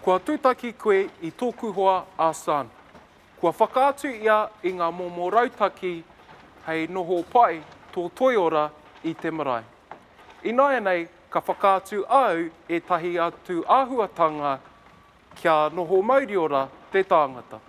Kua tūtaki koe i tōku hoa a Sun. Kua whakaatu ia i ngā momo rautaki hei noho pai tō toiora i te marae. Ināianei ka whakaatu au ētahi atu āhuatanga Kia noho mauriora te tāngata.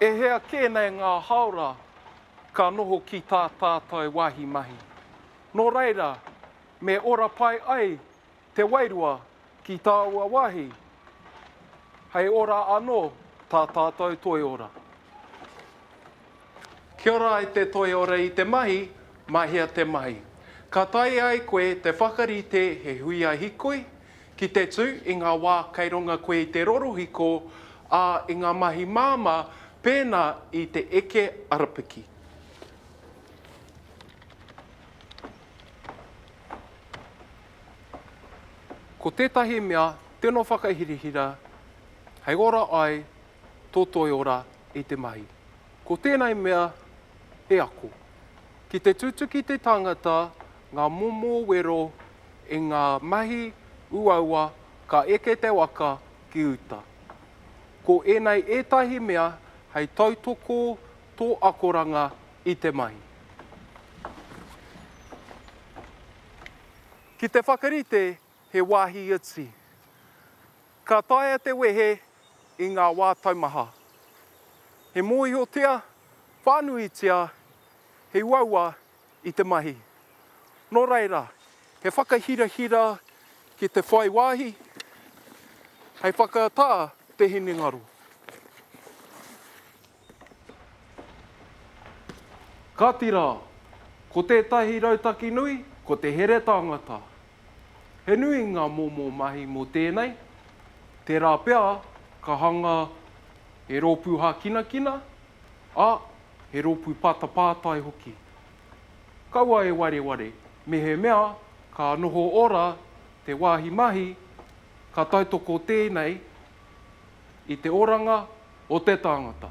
E hea kē nei ngā haora ka noho ki tā tātou wāhi mahi. Nō reira, me ora pai ai te wairua ki tāua wāhi, hei ora anō tā tātou toiora. Kia ora e te toi ora i te mahi, mahea te mahi. Ka taea e koe te whakarite he huia hikoi ki te tū i ngā wā kei runga koe i te rorohiko, ā, i ngā mahi māmā pēnā i te eke arapiki. Ko tētahi mea tino whakahirahira, hei ora ai tō toiora i te mahi. Ko tēnei mea he ako. Ki te tutuki te tangata ngā momo wero i ngā mahi uaua ka eke te waka ki uta. Ko ēnei ētahi mea hei tautoko tō akoranga i te mahi. Ki te whakarite He wāhi iti. Ka taea te wehe i ngā wā taumaha. He mōhiotia whānuitia he uaua i te mahi. Nō reira, he whakahirahira ki te whai wāhi hei whakaata te hinengaro. Kāti rā, ko tētahi rautaki nui, ko te here tāngata. He nui ngā momo mahi mō tēnei, tērā pea ka hanga he rōpū hākinakina, ā, he rōpū pātapātai hoki. Kaua e wareware, mehemea ka noho ora te wāhi mahi, ka tautoko tēnei, i te oranga o te tangata.